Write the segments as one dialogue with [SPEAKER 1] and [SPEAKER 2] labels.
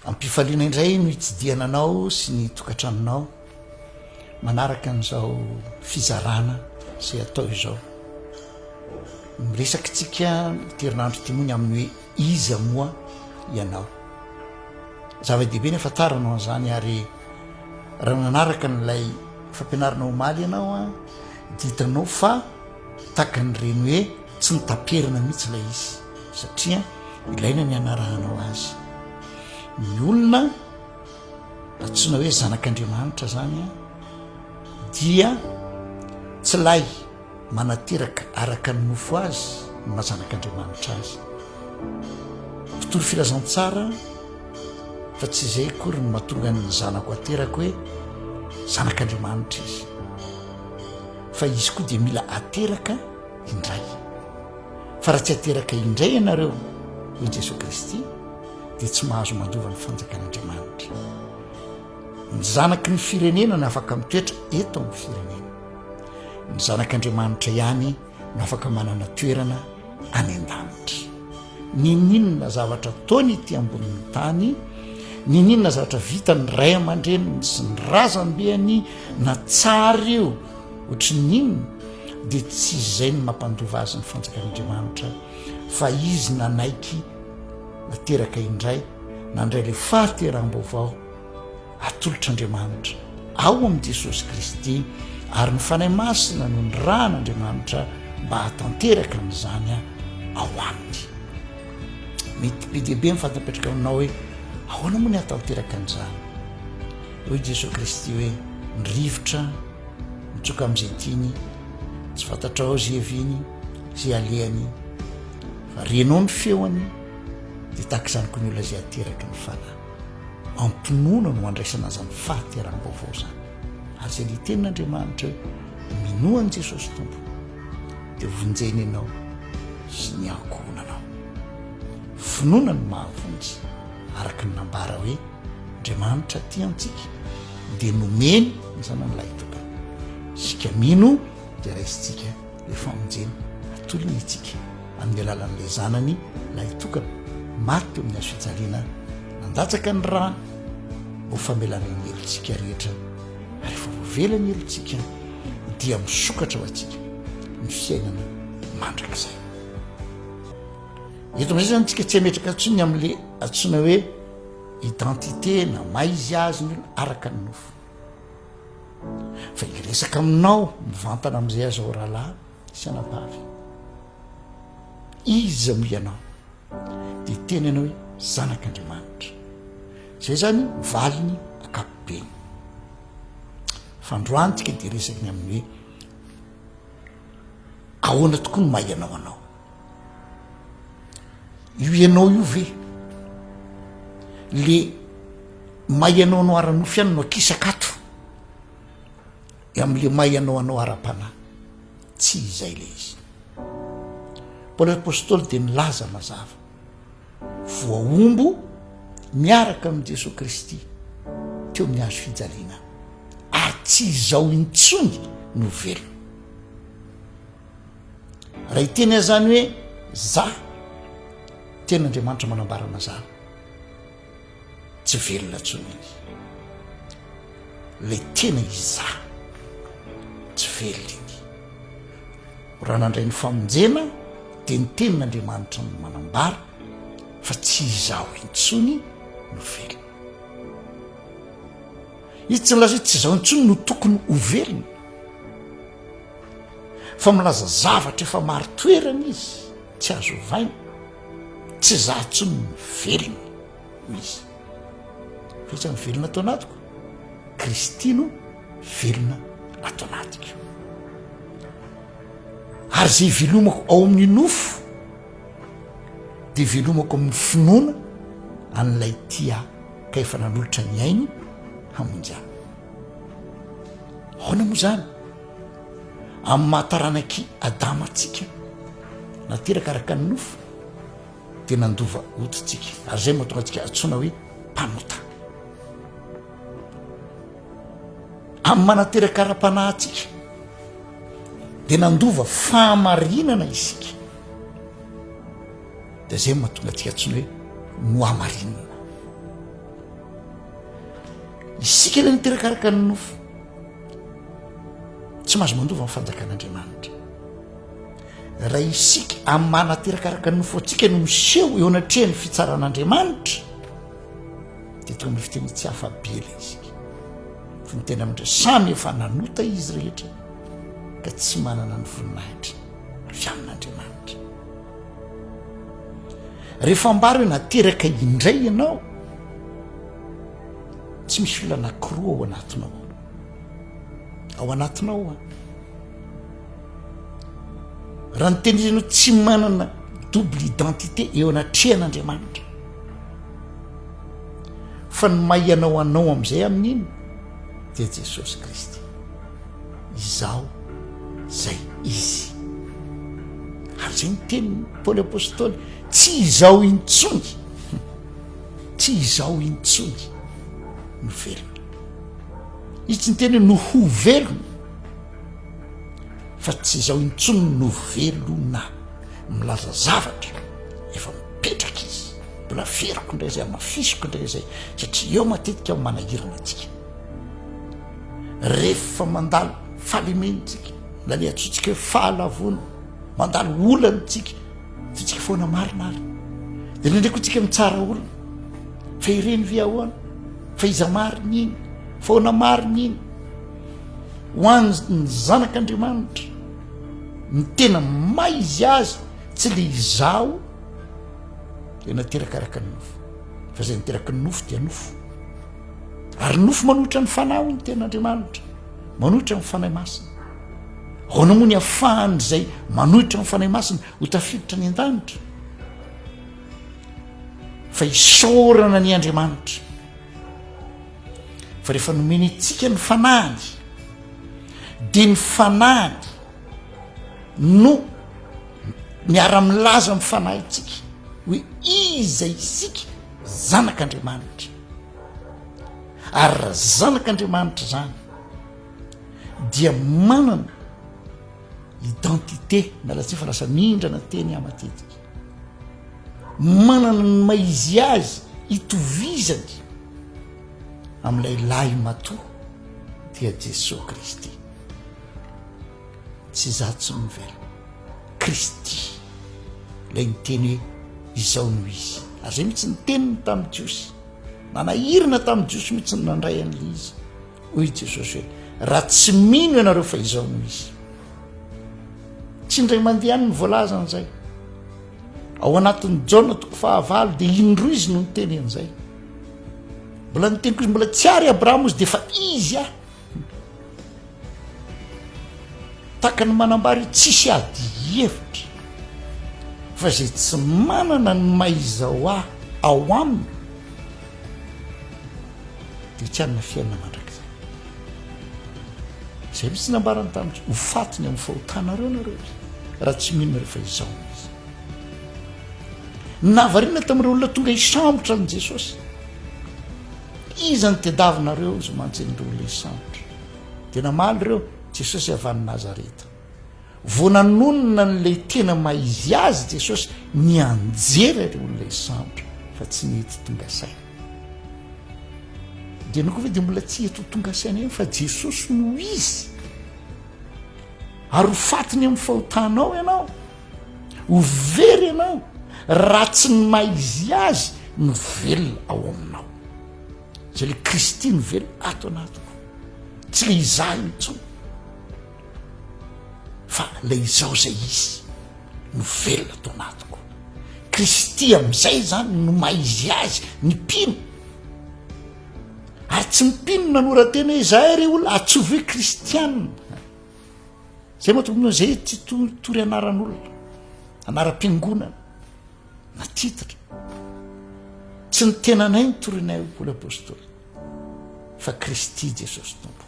[SPEAKER 1] Am-pifaliana indray no hitsidihana anao sy ny tokantranonao manaraka an'izao fizarana izay atao izao. Miresaka antsika ity herinandro ity moa ny amin'ny hoe iza moa ianao. Zava-dehibe ny hafantarana an'izany ary raha nanaraka an'ilay fampianarana omaly ianao dia hitanao fa Takan'ireny hoe tsy mitaperana mihitsy ilay izy satria ilaina ny hanarahanao azy. Ny olona antsoina hoe zanak'Andriamanitra zany dia tsy lay manateraka araka ny nofo azy ny mazanak'Andriamanitra azy. Mpitory filazantsara fa tsy izay akory ny mahatonga ny zanako aterako hoe zanak'Andriamanitra izy. fa izy koa dia mila ateraka indray fa raha tsy ateraka indray ianareo hoy Jesoa Kristy dia tsy mahazo mandova ny fanjakan'Andriamanitra ny zanaky ny firenena no afaka mitoetra eto amin'ny firenena ny zanak'Andriamanitra ihany no afaka manana toerana any an-danitra Ninoninona zavatra ataony ety ambonin'ny tany, ninoninona zavatra vitan'ny ray aman-dreniny sy ny razambeany na tsara io ohatry ny inona, dia tsy izay no mampandova azy ny fanjakan'Andriamanitra fa izy nanaiky nateraka indray, nandray ilay fahateraham-baovao. atolotr'Andriamanitra ao amin'i Jesosy Kristy ary ny Fanahy Masina no nirahan'Andriamanitra mba hatanteraka an'izany ao aminy. Mety be dia be ny fantapetraka aminao hoe ahoana moa ny hatanteraka an'izany. Hoy i Jesosy Kristy hoe ny rivotra mitsoka amin'izay tiany tsy fantatrao izay heviany izay alehany fa renao ny feony dia tahaka izany koa ny olona izay ateraky ny fanahy. Am-pinoana no andraisana izany fahateram-baovao izany. Ary izay niteny n'Andriamanitra hoe, Minoa an'i Jesosy Tompo, dia vonjena ianao sy ny ankohonanao. Finoana no mahavonjy, araka ny nambara hoe, Andriamanitra tia antsika, dia nomeny ny Zanany Lahitokany. Isika mino dia raisintsika. ny famonjena atolony antsika amin'ny alalan'ilay Zanany lahitokana maty teo amin'ny hazofijaliana nandatsaka ny rany ho famelana ny helotsika rehetra ary efa voavela ny helotsika dia misokatra ho antsika ny fiainana mandrakizay. Eto amin'izay zany tsika tsy ametraka atsony amin'le atsona hoe identité na maizy azy ny olona araka ny nofo. Fa hiresaka aminao mivantana amin'izay aza ao rahalahy sy anabavy. Iza moa ianao? Dia tena ianao hoe zanak'Andriamanitra. Izay izany valiny ankapobeny. Fa androantsika dia resaky ny amin'ny hoe ahoana tokoa no maha ianao anao. io ianao io ve le may ianao anao ara-nofo ihany no akisaka ato amin'le may ianao anao ara-panahy tsy izay le izy paoly apostoly dia nilaza mazava voahombo miaraka amin'i jesosy kristy teo amin'ny azo fijaliana ary tsy izao intsony no velona raha iteny azy zany hoe za tena andriamanitra manambarana zany tsy velona ntsony iny le tena iza tsy velona iny raha nandray ny famonjena de ny tenin'andriamanitra ny manambara fa tsy izaho intsony no velona izy tsy nylazay tsy izaho intsony no tokony ho velona fa milaza zavatra efa marin-toerana izy tsy azo ovaina tsy zah tson ny velona ho izy fetsa ny velona ato anatiko kristy no velona ato anatiko ary zay velomako ao amin'ny nofo de velomako amin'ny finoana an'ilay tia ka efa nanolotra ny ainy hamonjy any Ahoana moa izany? Amin'ny maha taranak'i Adama antsika, nateraka araka ny nofo, dia nandova odintsika. Ary izay no mahatonga antsika antsoina hoe mpanota. Amin'ny maha nateraka ara-panahy antsika, dia nandova fahamarinana isika. Dia izay no mahatonga antsika antsoina hoe nohamarinina. Isika ilay miterakaraka ny nofo. Tsy mahazo mandova ny fanjakan'Andriamanitra. Raha isika amin'ny maha naterakaraka ny nofo antsika no miseho eo anatrehan'ny fitsaran'Andriamanitra, dia toy ny fiteny tsy hafa be ilay isika. Fa ny tena mindra samy efa nanota izy rehetra ka tsy manana ny voninahitra avy amin'Andriamanitra. Rehefa ambara hoe nateraka indray ianao, Tsy misy olona anankiroa ao anatinao. Ao anatinao an. Raha ny teny ianao tsy manana double identité eo anatrehan'Andriamanitra. Fa ny maha ianao anao amin'izay amin'iny dia Jesosy Kristy. Izaho izay izy. Ary izay ny teniny Paoly Apostoly, tsy izaho intsony. Tsy izaho intsony no velona. Izy tsy niteny hoe no ho velona fa tsy izaho intsony no velona. Milaza zavatra efa mipetraka izy. Mbola averiko indray izay, amafisiko indray izay satria eo matetika ny manahirana antsika. Rehefa mandalo fahalemena isika, na ny antsointsika hoe fahalavoana, mandalo olana isika, Vitsika foana marina ary de nendreko tsika mitsara olona fa ireny ve ahoana fa iza marina iny faona marina iny ho anny zanak'andriamanitra ny tena may izy azy tsy le izaho de nateraka araka ny nofo fa zay niteraka ny nofo dia nofo ary nofo manohitra ny fanahy ho ny ten'andriamanitra manohitra ny fanahy masina Ahoana moa ny ahafahan'izay manohitra ny Fanahy Masina ho tafiditra any an-danitra? Fa isaorana ny Andriamanitra fa rehefa nomeny antsika ny fanahiny dia ny fanahiny no miara-milaza amin'ny fanahintsika hoe iza isika zanak'Andriamanitra ary raha zanak'Andriamanitra izany dia manana identité na latsy fa lasa mindrana teny ah matetika manana ny maizy azy itovizany amin'ilay lahy matoa dia jesoa kristy tsy za tsy mivela kristy lay ny teny hoe izao no izy ary zay mitsy ny teniny tamin'ny jiosy nanahirina tamin'ny jiosy mitsy ny nandray an'la izy Hoy i Jesosy hoe, Raha tsy mino ianareo fa izao no izy. Tsy indray mandeha any ny voalaza an'izay. Ao anatin'ny Jaona toko fahavalo dia indroa izy no niteny an'izay. Mbola niteny koa mbola tsy ary Abrahama izy dia fa izy aho. Takany manambara io tsisy ady hevitra fa izay tsy manana ny maizao aho ao aminy Dia tsy hanana fiainana mandrakizay. Izay mihitsy nambarany tamiko, ho faty ny amin'ny fahotanareo nareo ry raha tsy mino rehefa izao no izy. Nahavariana tamin'ireo olona tonga hisambotra an'i Jesosy. Iza no tediavinareo izay mantsy an'ireo olona hisambotra? Dia namaly ireo, Jesosy avy any Nazareta. Vao nanonona an'ilay tena maha-izy azy Jesosy, nianjera ireo olona sampy fa tsy nety tonga saina. Dia ianao koa ve dia mbola tsy eto tonga saina ihany fa Jesosy no izy? Ary ho faty ny amin'ny fahotanao ianao, ho very ianao raha tsy ny maha-izy azy no velona ao aminao. Izay ilay Kristy no velona ato anatiko, tsy ilay izaho intsony. fa le izaho zay izy no velona to anatiko kristy amizay zany no maha izy azy ny mpino ary tsy ny mpino nanoratena izay re olona atsovy hoe kristiana zay moa tompony zay tsy totory anaran'olona anaram-piangonana na tititra tsy ny tenanay ny torinay o paoly apostoly fa kristy jesosy tompo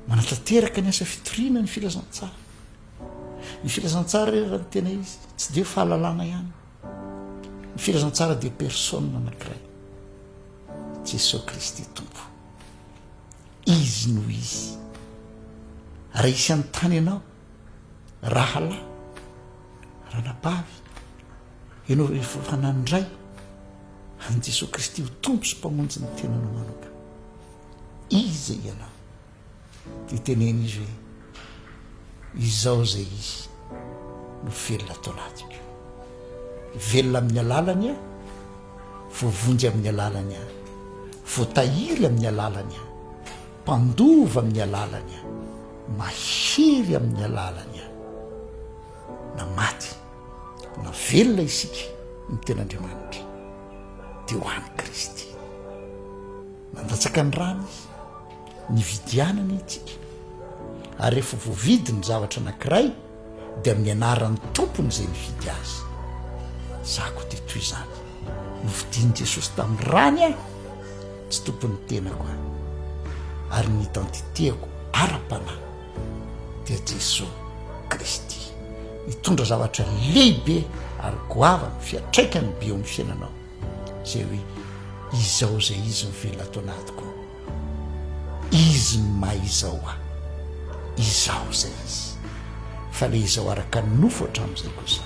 [SPEAKER 1] Manatanteraka ny asa fitoriana ny filazantsara. Ny filazantsara re raha ny tena izy, tsy dia fahalalana ihany. Ny filazantsara dia personne anankiray. Jesosy Kristy Tompo. Izy no izy. Raha isy an'ny tany ianao, rahalahy, ranabavy, ianao rehefa fananindray, an'i Jesosy Kristy ho Tompo sy Mpamonjy ny tenanao manokana. Iza ianao? Dia teneno izy hoe, Izaho izay Izy no velona ato anatiko. Velona amin'ny alalany aho, voavonjy amin'ny alalany aho, voatahiry amin'ny alalany aho, mpandova amin'ny alalany aho, mahery amin'ny alalany aho. Na maty na velona isika ny tenin'Andriamanitra dia ho an'i Kristy. Nandatsaka ny rany izy. Nividianana itsika. Ary rehefa voavidy ny zavatra anankiray dia amin'ny anaran'ny tompony izay nividy azy. Izaho koa dia toy izany. Novidian'i Jesosy tamin'ny rany aho, tsy tompon'ny tenako aho. Ary ny identité-ko ara-panahy dia Jesosy Kristy. Nitondra zavatra lehibe ary goavana, fiantraikany be eo amin'ny fiainanao. izay hoe izao izay izy mivelona ato anatiko ao, izy ny maha izao ahy, izaho izay izy, fa ilay izao araka ny nofo hatramin'izay kosa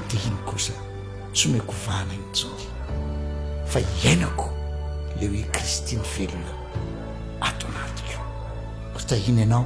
[SPEAKER 1] dia iny kosa tsy omeko vahana intsony fa iainako ilay hoe Kristy mivelona ato anatiko. Ho tahiana ianao.